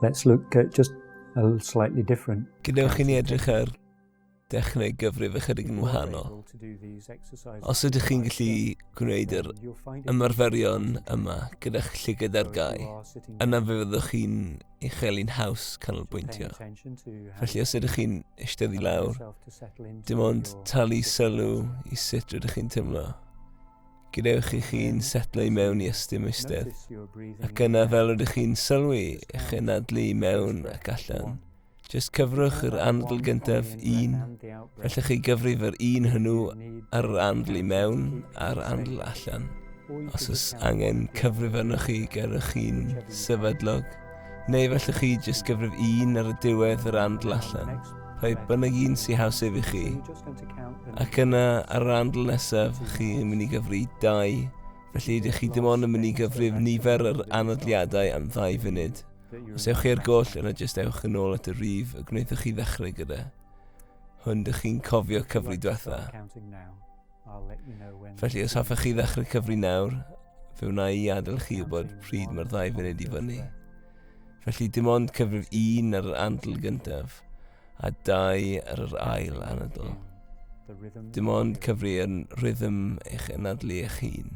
Let's look at just a slightly different. Gwnewch i ni edrych ar dechnau gyfrif ychydig yn wahanol. Os ydych chi'n gallu gwneud yr ymarferion yma gyda'ch llygad ar gau, yna fe fyddwch chi'n uchel i'n haws canolbwyntio. Felly os ydych chi'n eistedd i lawr, dim ond talu sylw i sut rydych chi'n teimlo. Gydewch i chi'n setlo i mewn i ystym eistedd, ac yna fel rydych chi'n sylwi eich enadlu i mewn ac allan, Jyst cyfrwch yr andl gyntaf un. Felly chi gyfrif yr un hwnnw ar yr andl i mewn a'r andl allan. Os oes angen cyfrif arnoch chi, gerwch chi'n sefydlog. Neu felly chi jyst gyfrif un ar y diwedd yr andl allan. Rhoi bynnag un sy'n haws ef i chi. Ac yna ar yr andl nesaf, chi'n mynd i gyfri dau. Felly ydych chi dim ond yn mynd i gyfrif nifer yr anodliadau am ddau funud. Os ewch chi ar goll yna jyst ewch yn ôl at y rif y gwnaethoch chi ddechrau gyda. Hwn dych chi'n cofio cyfri diwetha. Felly os hoffech chi ddechrau cyfri nawr, fe wna i adael chi wybod pryd mae'r ddau funud i fyny. Felly dim ond cyfrif un ar yr andl gyntaf, a dau ar yr ail anadl. Dim ond cyfri yn rhythm eich anadlu eich hun.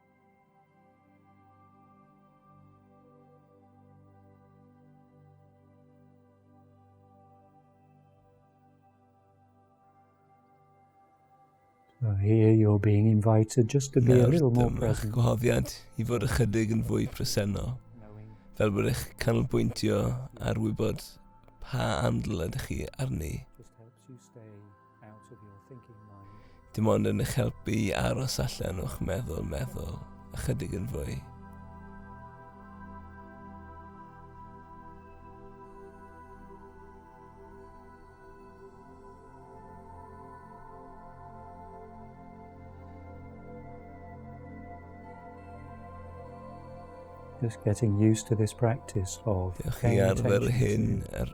So here you're being invited just to be Nawr, a little more present. Nawr, gwahoddiad i fod ychydig yn fwy presennol. Fel bod eich canolbwyntio ar wybod pa andl ydych chi arni. Dim ond yn eich helpu i aros allan o'ch meddwl meddwl ychydig yn fwy. Just getting used to this practice of Diolch i arfer hyn ar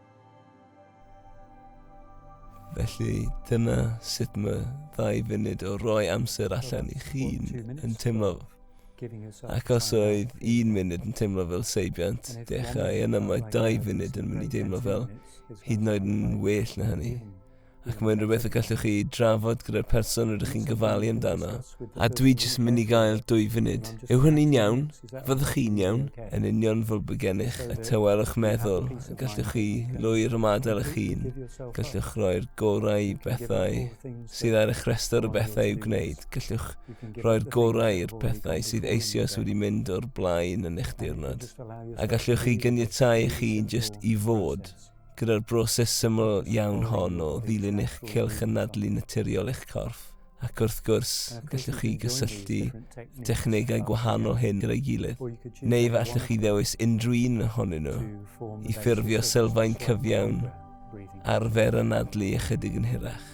Felly dyna sut mae ddau funud o roi amser allan i chi'n yn teimlo. Ac os oedd un munud yn teimlo fel seibiant, dechrau yna mae dau funud yn mynd i deimlo fel hyd yn oed yn well na hynny. ac mae'n rhywbeth y gallwch chi drafod gyda'r person rydych chi'n gofalu amdano. A dwi jyst yn mynd i gael dwy funud. Yw hynny'n iawn? Fyddwch chi'n iawn? Yn union fel bod gennych y tywelwch meddwl, y gallwch chi lwyr ymadael eich hun. Gallwch roi'r gorau i bethau sydd ar eich rhestr o bethau i'w gwneud. Gallwch roi'r gorau i'r pethau sydd eisioes wedi mynd o'r blaen yn eich diwrnod. A gallwch chi gyniatau eich hun jyst i fod. Gyda'r broses syml iawn hon o ddilyn eich cylch yn nadlu naturiol eich corff, ac wrth gwrs, gallwch chi gysylltu technegau gwahanol hyn gyda'i gilydd, neu fe allwch chi ddewis unrhyw un ohonyn nhw i ffurfio sylfaen cyfiawn arfer anadlu ychydig yn hirach.